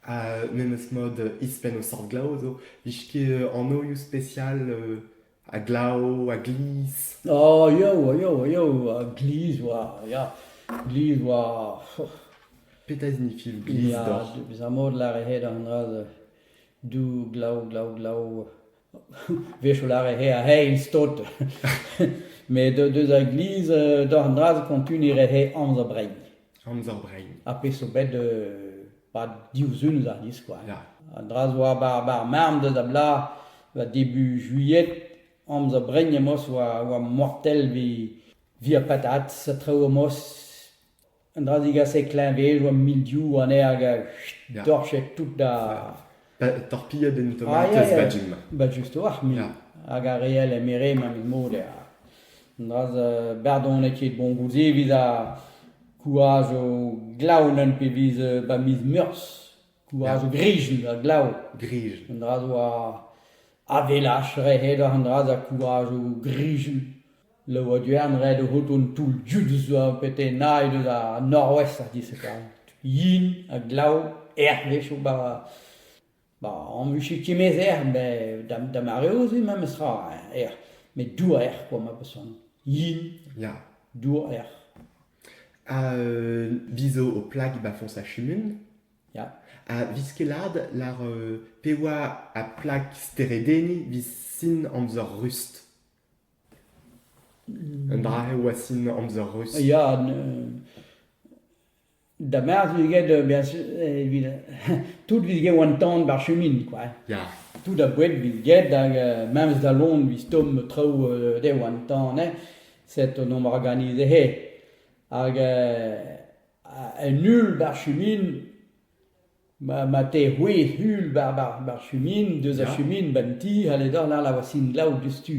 Euh, memes mod izpenn o sort glav zo. Vije ket euh, anoioù spesial euh, a glav, a glizh. Oh, yo, yo, yo, uh, glizh war, ya, glizh war, Petra signifie glizh ya, d'or? bezañ mod lâret hed an dra-se. Du, glav, glav, glav, wech a lâre he eil stod met deus ar gliz doc'h an dra-se kontuniñ re he amzer brein amzer brein ha pezh zo bet pad div sizhun eus ar c'hiz kwa an dra zo bar marm deus a-blaz war debu juillet amzer brein emaoz oa mortel evit ar patatez traoù emaoz Un dra digasek kleñvezoù ha mildiou anezhañ hag a Ya. dorched tout da... Pa- Torpilhed en Ah, tomatez ya, ya. badjim. Ba justoc'h, mil. Ya. Hag ar real emere ma met mod eo. Un dra euh, bardonet ket bon goude evit ar kouaj o glaonen pe viz euh, ba miz meurzh. Kouaj o grijen da glav. Grij. Un dra zo ar avelaj rehet oc'h an dra da kouaj o grijen. Laouen ret eo out hon toull dud zo petenaet eus ar Norwest a dizh eta. Yin ha glav hervez zo ba ba añvus e timez erc'h met da da mareoù-se memes tra erc'h met dour erc'h kwa ma person yin ya dour erc'h ha vi zo ho plag ba foñs ar chumun ya ha viz kelat lar pe oa ar plag steredenniñ viz sin amzer rust Un dra eo a sin amzer ruz. Ya, da merzh vez get evit tout vez get an tan ba'r chumin kwa. Ya. Tout a boued vez get hag memes da Lond vez tomm traoù dezho an tan eh set on omp organizet he hag un ul ba'r chumin Ma teu c'hwezh uhel ba'r chumin, deus ar chumin, ba'n ti, ha ledon all a oa sin-glav diouzhtu.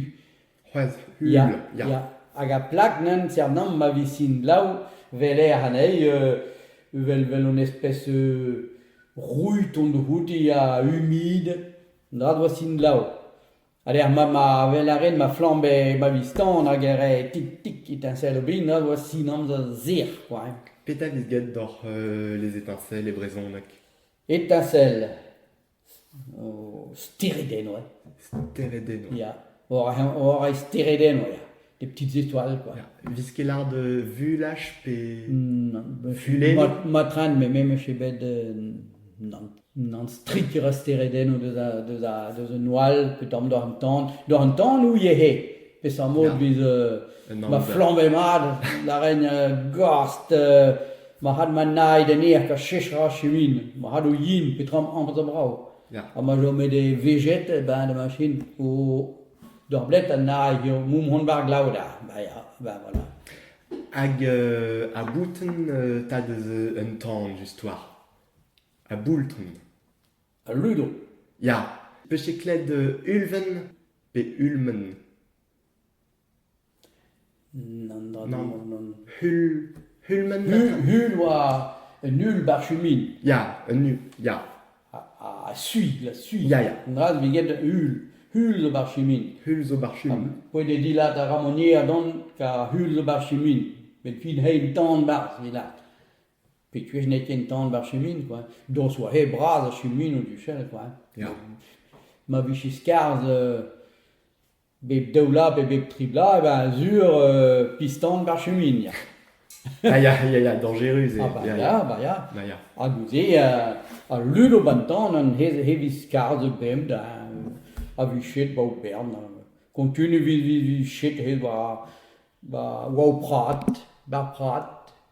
C'hwezh uhel, ya. Ya, hag ar plak nen sernan ma vi sin-glav 'vel-ec'h anezhi vel un espes roud on-dro outi ha humid, 'ndra 'doa sin-glav. A lec'h ma ma wel a ren ma flamm e ma viz-tan hag e re tik-tik etinsel o bin a vo sin amzer zir kwa hein. Petra vez graet doc'h les étincelles e brezhoneg? Etincelle o steredennoù eh. Steredennoù. Ya war ar steredennoù ya. des petites étoiles, quoi. Une escalade euh, vulage pe... Non. Fulene Mat- Matran, mais même chez bed, euh, non. Non, strik e ra steredenn o deus a, deus a, deus un oal, pe tamm doc'h an tan. Doc'h an tan ou iehe? Peseurt mod Ya. biz... euh, Un ma amzer. flamm e mat, la rein euh, gost, euh, ma had ma naid en eak a chechra chemin, ma had o yin, petra am amzer brao. Ya. Ha ma jo met e vejet e ben de machine o D'ur bled anay eo mont mont war glav da. Ba ya, ba voilà. Hag euh, a boutin euh, tad eus un tan just war. A boulton. Al ludo. Ya. Peche kled euh, ulven pe ulmen? N'an dra Nann. Nann. Hul... Hulmenn Hul, gatin. hul oa un hul bar chumin, Ya, un hul, ya, ha, ha, ha suis, la suis. ya, ya. An dra vez get hul. Hul zo bar chumin. Hul zo bar chumin. Poent eo dilad a ra monier don ka hul zo bar chumin. Met fin hein tan barzh e lad. Pe kuez n'eo ken tan bar chumin, quoi. Dos oa he bras a chumin o duchel, quoi. Ya. Ma vije skarzh euh, Bep daou vloaz pe bep tri bloaz e ben sur piston war chumin ya. Ah ya, ya, ya, dañjerus eo. Ah bah ya, bah ya. Ya, ya. Ha goude ha lud abañtan an hevis skarzhet bemdez a vi chet war o bern. Kontun e vi chet hed war o prad, war prad.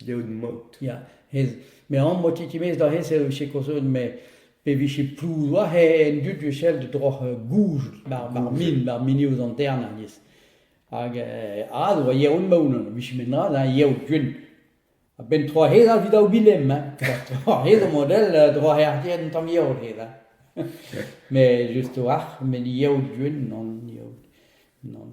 dleout mod. Ya, ez, me am boa titimez da hens eo sikourseet, me e vije plouz war en dud sell droch euh, gouzout bar, bar min, bar mini ouz an tern alies. Hag euh, a oa yeoun maounan, vije met na, na yeout guen. A-benn tro hez al vidao bilem, hein. Tro hez o model euh, dro hertien un tamm yeout hez, hein. Mais juste war, met yeout guen, non yeout, non.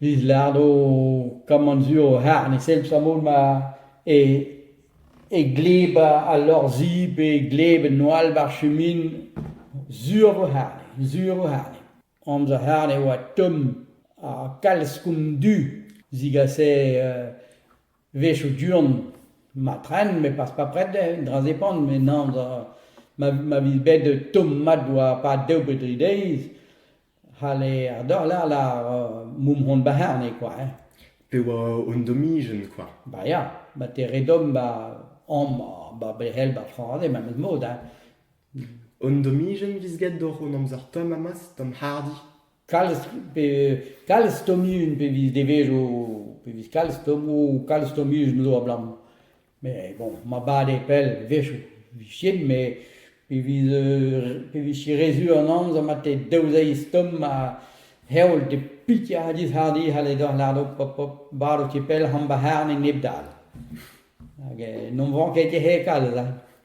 Biz lardo kammant sur o c'harr ne sell sammon ma e e gleb al lor-zi pe e gleb en noal war chumin sur vo c'harre, sur vo c'harre. Amzer c'harre e oa tomm ha kalz koun du zigase wezhioù du-hont ma tren met pas pas prest dezhe, un dra depant met nan ma ma viz bet tomm mat war pad daou pe dri deiz. c'halle ar dorler lar moumhont ba c'herne kwa hein. Pe oa un domijenn kwa. Ba ya, ba te re dom ba amp ba berel ba trañde memes mod hein. Un domijenn viz get doc'h hon amzer tomm amaz d'an hardi. Kalz pe kalz tomijenn pe viz devezo pe viz kalz tomo kalz tomijenn zo abalamour. Mais bon, ma bale pell a-wechoù 'vijen met pe viz pe vije re sur an amzer ma te daou-zeiz tomm ha heol te pikiadis-hardi c'halle deoc'h lârout hop hop barv ket pell c'hant bac'harn e nep dal. Hag eh n'omp 'vañ ket ket hekal da.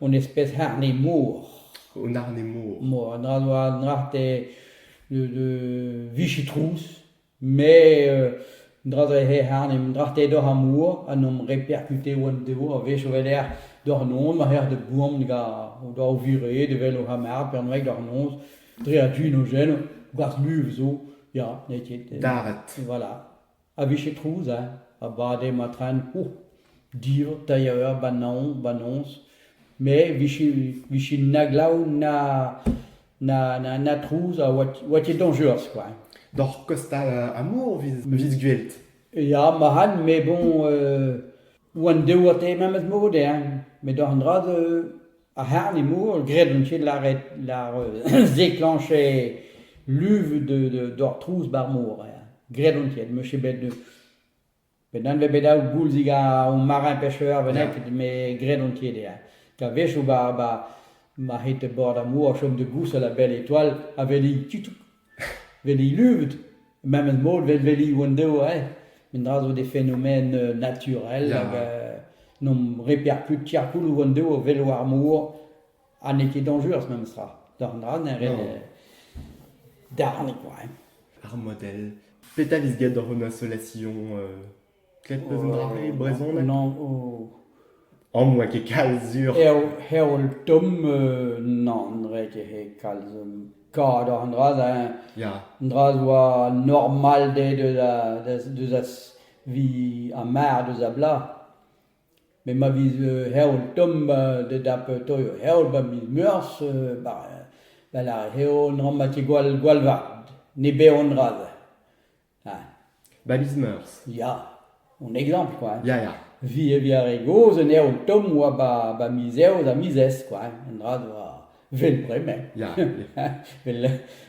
hon eus pet harne-mor. Un harne-mor. Mor, un dra zo un drate de vichitrouz, mais un dra zo he harne, un drate doc'h ar mor, ha n'omp repercute oan devo, a wech o weler doc'h noz, ma c'her de boan ga o doa o vire, de wel o c'hamard, pernoeg doc'h noz, dre a du no geno, gwarzh muv zo, ya, n'eo ket. Daret. Voilà. a vije trouzañ a bade ma tren ouc'h dir tailhañ eur ba naoñ ba noz me vije na glav na na na na trouz a oa ket dañjerus kwa. Doc'h kostal Amour 'vit gwelet? Ya ma ran, met bon... Oant douet eo memes mod eñ met an dra-se ar c'harr-nimour graet on tu lâret lâr zeclencher luv doc'h trouz ba'r mor eñ graet on tu m'eus ket bet bet anvet bet daou goulzig o marin pêcheur benniket met graet on tu eñ a-wechoù ba ma c'hete bord ar mor chom da gousel a-bell etoile a veli tutuk. Veli luvet, memes mod vel veli hon-deo eh, mendra zo des phénomènes euh naturels Ya. hag euh n'omp reperkut tiarcouloù hon-deo velo ar mor, ha n'eo ket dañjerus memestra, doc'h an dra-se ret Non. euh darn quoi hein. Ar modèle. Petra 'vez graet doc'h hon assolation euh Ket peus un dra e brezhoneg ? An n'oa ket kalz sur. Heol tomm nann 'oa ket he kalz. Kavet oc'h an dra-se eñ. An dra-se 'oa normalded deus a vi ar mar deus a bloaz. Met ma viz heol tomm da dap toio heol 'ba miz Meurzh 'ba vel ar heol 'na 'ma ket gwall gwall vat. Ne bev an dra-se. Ah, 'ba miz Meurzh. Ya, on eglampl kwa. Ya, ya. Vi e via re gozh un evn tomm 'oa 'ba ba miz Eost ha miz Ez kwa, un dra 'doa 'vel bremañ. Ya, ya. Vel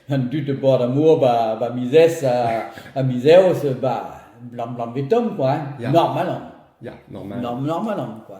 an dud e bord ar mor 'ba ba miz Ez ha ha miz Eost, bah, 'blam 'blam 'vez tomm kwa, Ya. normal on. Ya, normal. Norm- normal on kwa.